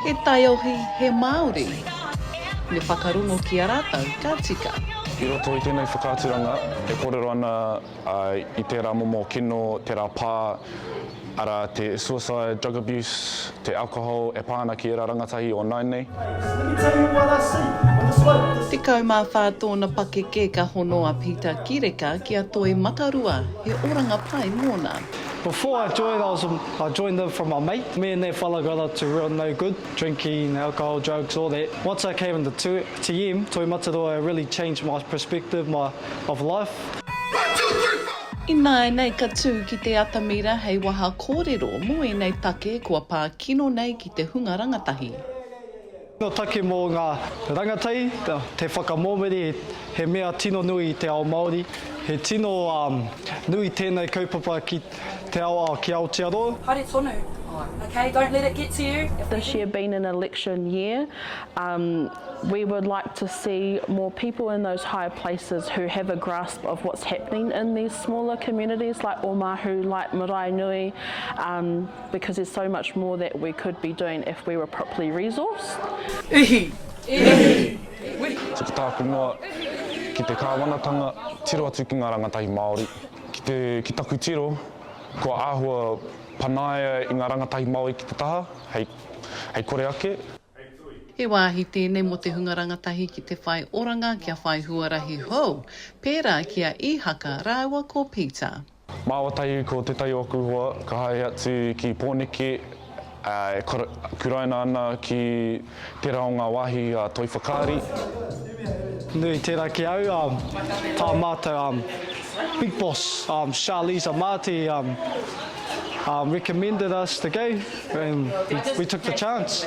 He taiohi, he Māori. Me whakarongo ki a rātou ka tika. I roto i tēnei whakaaturanga e kōrero ana i tērā momo kino, tērā pā, arā, te suicide, drug abuse, te alcohol e pā ana ki ērā rangatahi o nāianei. Tekau mā whā tōna pakeke ka hono a Pita Kireka ki a Toi Matarua, he oranga pai mōna. Before I joined I was I joined them from my mate me and that fella got up to real no good drinking alcohol drugs all that once I came into two TM Toi Mataroa it really changed my perspective my of life. Ināianei ka tū ki te atamira hei waha kōrero mō ēnei take kua pā kino nei ki te hunga rangatahi. Tino take mō ngā rangatahi te whakamomori he mea tino nui i te ao Māori. He tino nui tēnei kaupapa ki te ao ki Aotearoa. Haere tonu. Ok don't let it get to you. This year being an election year um we would like to see more people in those higher places who have a grasp of what's happening in these smaller communities like Oamahu, like Maraenui um. Because there's so much more that we could be doing if we were properly resourced. Ihi! Ihi! Tuku tāku noa ki te kāwanatanga, tiro atu ki ngā rangatahi Māori. Ki te, ki taku tiro, kua āhua panaia i ngā rangatahi Māori ki te taha, hei, hei kore ake. He wāhi tēnei mō te hunga rangatahi ki te whai oranga kia whai huarahi hou, pērā ki a Īhaka rāua ko Peter. Māua tahi ko tētahi o aku hoa ka haere atu ki Pōneke e kuraina ana ki tērā o ngā wāhi a Toi Whakaari. Nui, tēnā ki au, tā mātou big boss, Charlisa Marti, recommended us to go and we took the chance.